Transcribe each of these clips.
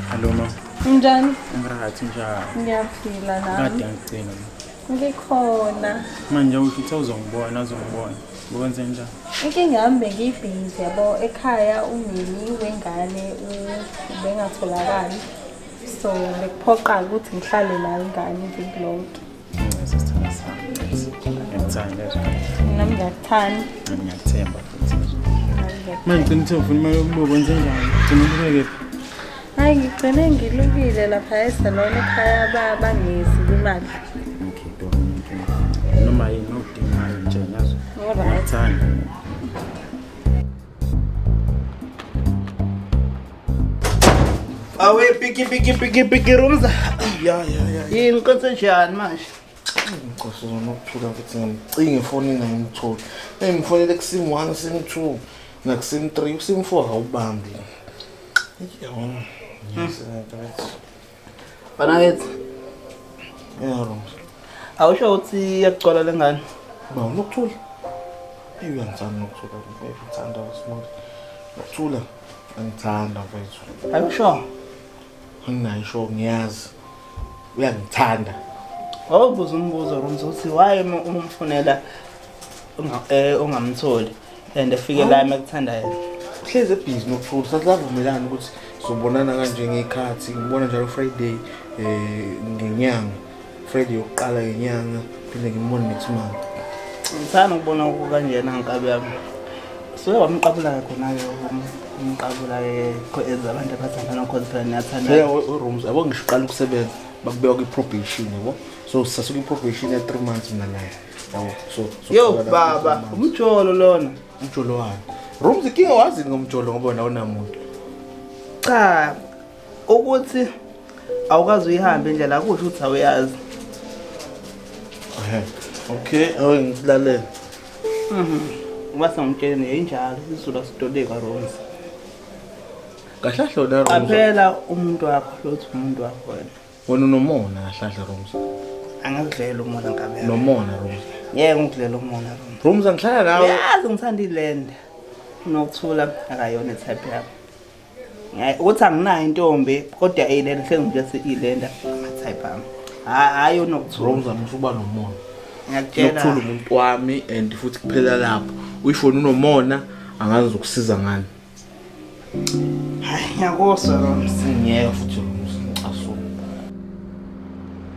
Hello mama. Unjani? Ngirathi njalo. Ngiyaphila nami. Kade angigcina. ngikhona manje usho ukuthi uzongibona uzongibona ngokwenze njani inkinga yami bengiyibhizi yabo ekhaya umini wengane ubengatholakali so bekuphoqa ukuthi ngihlale la ingane iviki lonke mina ngiyakuthanda ngiyakuthemba futhi manje ngicela ukuthi ufuna imali yokubuka kwenze njani gcina ubukeke Hayi ngigcine ngilukile lapha esalone ekhaya baba ngezi imali. Okay, do. Noma yini odingayo nje ngazo. Alright. Thanda. Awe piki piki piki piki rumza. Ya ya ya. Yini konse njani manje? Nkosi zona ukuthula ukuthi ngicinge ifoni ngayimtholi. Engifonele kusim 1 sim 2 nakusim 3 usim 4 awubambi. Banakethi. Yeah, wrong. Awusho ukuthi yakugcwala lengane? Ba unokuthula. Eyi uyangithanda nokuthula mfethu, ngithanda uSmart. Nokuthula angithanda mfethu. Are you sure? Anginayo sure ngiyazi. uyangithanda wawubuza umbuzo rooms uthi why uma umfunela eh, ungamtholi and efike la uma kuthanda yena uhlezi ebhizi nokuthula sasavumelana ukuthi sobonana kanje ngekhathi ngibona njalo friday um ngenyanga friday yokuqala ngenyanga phinde ngimbone next month ngithanda ukubona kukanjena nkabi yami so wamqabula-ke khona-ke umqabula-ke as abantu abathandana cause phela niyathandaurooms yabo ngisho uqala ukusebenza bakubeka kwi-probation yabo so sase kwi-probation ya three months mina naye yabo so yo baba umjolo lona umjolo wani rooms ikinga wazini ngomjolo ngoba nawo namuntu cha ukuthi awukazi uyihambe indlela akusho ukuthi awuyazi okay awuke ngisilalele mhm. uba sangitshele yayinjalo isizulu asidodeka ronzi kahlahlo la qaphela umuntu wakho lothi umuntu wakho wena wena unomona kahlahla ronzi angikudlela umona ngabe nomona ronzi yeke ngikudlela umona ronzi ronzi angihlala nawe yazi ngithanda ilenda unokuthula akayona itype yakho Eh, ukuthi anginayo intombi kodwa eyilena hlengike si ilenda type am hayi unokuthuka uzama ukuba nomona ngiyakutshela ukuthula umuntu wami and futhi kuphela lapho uyifoni unomona angazi ukusiza ngani hayi ngiyakuzwa lo msingeke futhi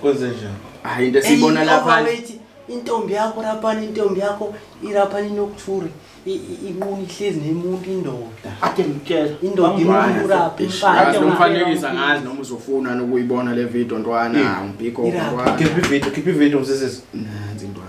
Kwenze njani? Hayi into esiyibona lapha. Intombi yakho rapani intombi yakho irapani nokthuri inquni ihlezi nemuntu indoda. Ake ngitshela. Indoda imuntu uraphi mfana. Umfanekisa ngazi noma uzofuna nokuyibona le video ntwana ngibhiko ntwana. Keep video keep video msisi. Nanzi ntwana.